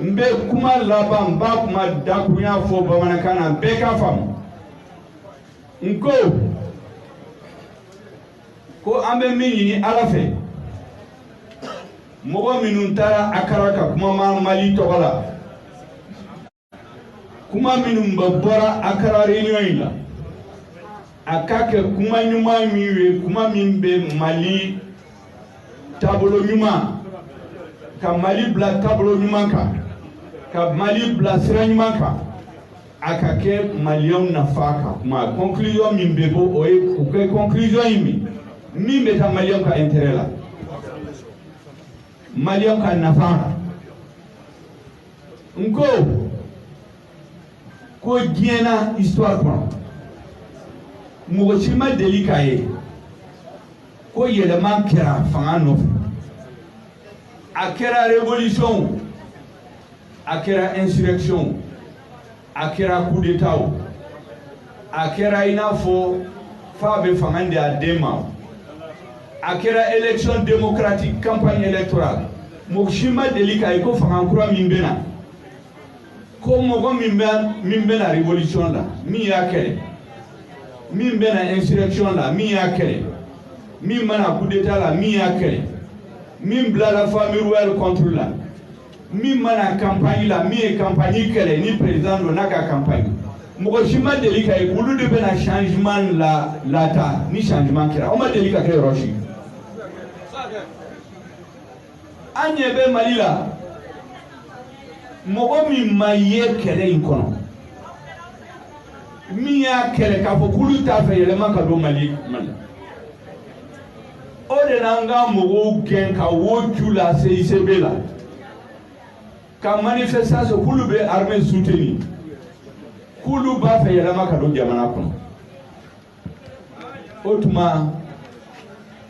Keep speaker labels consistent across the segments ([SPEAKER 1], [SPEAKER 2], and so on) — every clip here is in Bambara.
[SPEAKER 1] n bɛ kuma laban n b'a kuma dakurunya fɔ bamanankan na bɛɛ k'a faamu n ko ko an bɛ min ɲini ala fɛ mɔgɔ minnu taara akara ka kuma ma mali tɔgɔ la kuma minnu bɛ bɔra akara réunion in la a ka kɛ kuma ɲuman min ye kuma min bɛ mali taabolo ɲuman ka mali bila taabolo ɲuman kan ka mali bila sira ɲuman kan a ka kɛ maliyɛnw nafa ka kuma conclusion min bɛ bɔ o ye o kɛ conclusion ye min min bɛ taa maliyɛnw ka intérêt la maliyɛnw ka nafa la n ko ko diɲɛ na histoire kɔnɔ mɔgɔ si ma deli k'a ye ko yɛlɛma kɛra fanga nɔfɛ a kɛra révolution o a kɛra insurrection o a kɛra coup d'état o a kɛra i n'a fɔ fa bɛ fanga di a den ma a kɛra élection démocratique campagne électorale mɔgɔ si ma deli k'a ye ko fanga kura min bɛ na ko mɔgɔ min banna révolution la min y'a kɛlɛ min banna insurrection la min y'a kɛlɛ min banna coup d'état la min y'a kɛlɛ min bilala famille royale contre la min banna campagne la min ye campagne kɛlɛ ni président don n'a ka campagne mɔgɔ si ma deli k'a ye olu de bɛna changement lataa ni changement kɛra o ma deli ka kɛ yɔrɔ si an ɲɛ bɛ mali la mɔgɔ min ma ye kɛlɛ in kɔnɔ min y'a kɛlɛ k'a fɔ k'olu t'a fɛ yɛlɛma ka don mali mali o de nana ka mɔgɔw gɛn ka wo ju la cicb la ka manifestation k'olu bɛ armée soutenir k'olu b'a fɛ yɛlɛma ka don jamana kɔnɔ o tuma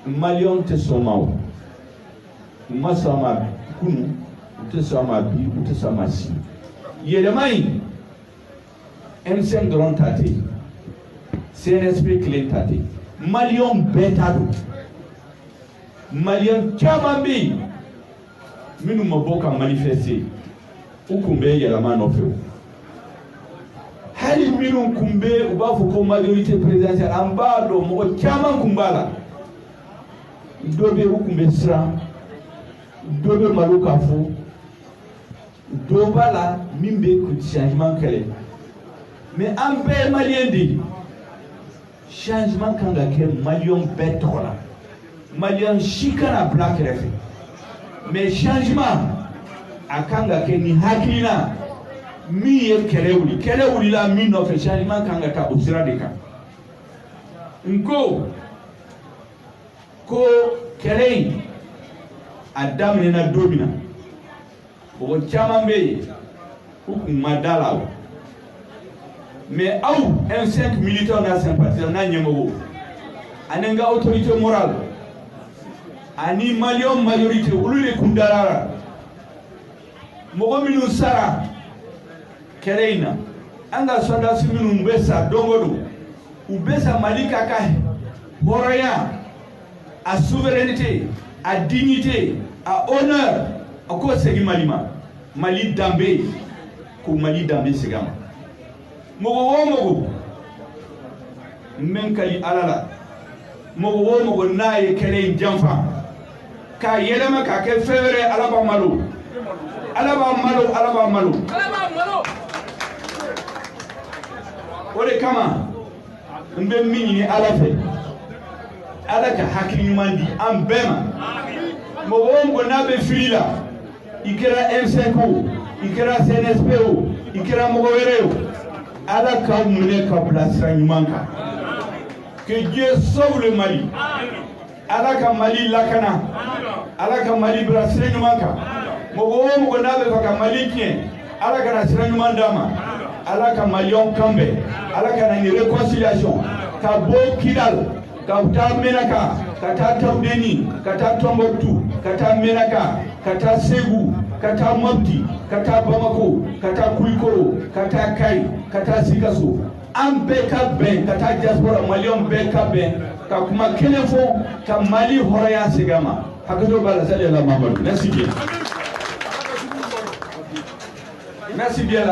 [SPEAKER 1] maliyɛnw tɛ sɔn a ma o u ma sɔn a ma kunu u tɛ sɔn a ma bi u tɛ sɔn a ma sini yɛlɛma in m5 dɔrɔn ta tɛ cnsp kelen ta tɛ maliyɛnw bɛɛ ta don maliyɛn caman bɛ yen minnu ma bɔ ka manifester u kun bɛ yɛlɛma nɔfɛ o hali minnu kun bɛ u b'a fɔ ko majorité présidentielle an b'a dɔn mɔgɔ caman kun b'a la dɔ bɛ u kun bɛ siran dɔ bɛ malo k'a fɔ dɔ b'a la min bɛ changement kɛlɛ mais an bɛɛ ye maliyɛn de ye changement kan ka kɛ maliyɛn bɛɛ tɔgɔ la maliyɛn si kana bila kɛrɛfɛ mais changement a kan ka kɛ ni hakilina min ye kɛlɛ wuli kɛlɛ wulila min nɔfɛ changement kan ka taa o sira de kan n ko ko kɛlɛ in a daminɛna don min na mɔgɔ caman bɛ yen u kun ma da la o mais aw M5 militants n'a sympathisants n'a ɲɛmɔgɔw ani n ka autorité morale ani maliyɛnw majorité olu de kun dara la mɔgɔ minnu sara kɛlɛ in na an ka sɔrɔdasi minnu bɛ sa don o don u bɛ sa mali ka ka hɔrɔnya a souveraineté a dignité a honneur a k'o segin mali ma mali danbe ko mali danbe segin a ma mɔgɔ o mɔgɔ n bɛ n kali ala la mɔgɔ o mɔgɔ n'a ye kɛlɛ in janfa k'a yɛlɛma k'a kɛ fɛn wɛrɛ ala b'a malo ala b'a malo ala b'a malo o de kama n bɛ min ɲini ala fɛ ala ka hakili ɲuman di an bɛɛ ma mɔgɔ o mɔgɔ n'a bɛ fili la i kɛra m5 o i kɛra cnsp o i kɛra mɔgɔ wɛrɛ o ala k'a minɛ k'a bila sira ɲuman kan que dieu sauve le mali ala ka mali lakana ala ka mali bila sira ɲuman kan mɔgɔ o mɔgɔ n'a b'a fɛ ka mali tiɲɛ ala kana sira ɲuman d'a ma ala ka maliyɛnw kan bɛn ala ka na ni réconciliation ka bɔ kidal ka taa menaka ka taa tawudeni ka taa tombouctou ka taa menaka ka taa segu ka taa mopti ka taa bamako ka taa kulikoro ka taa kayi ka taa sikaso an bɛɛ ka bɛn ka taa diaspora maliyɛnw bɛɛ ka bɛn ka kuma kelen fɔ ka mali hɔrɔnya segin a ma hakɛto b'a la salamu alekum merci bien merci bien la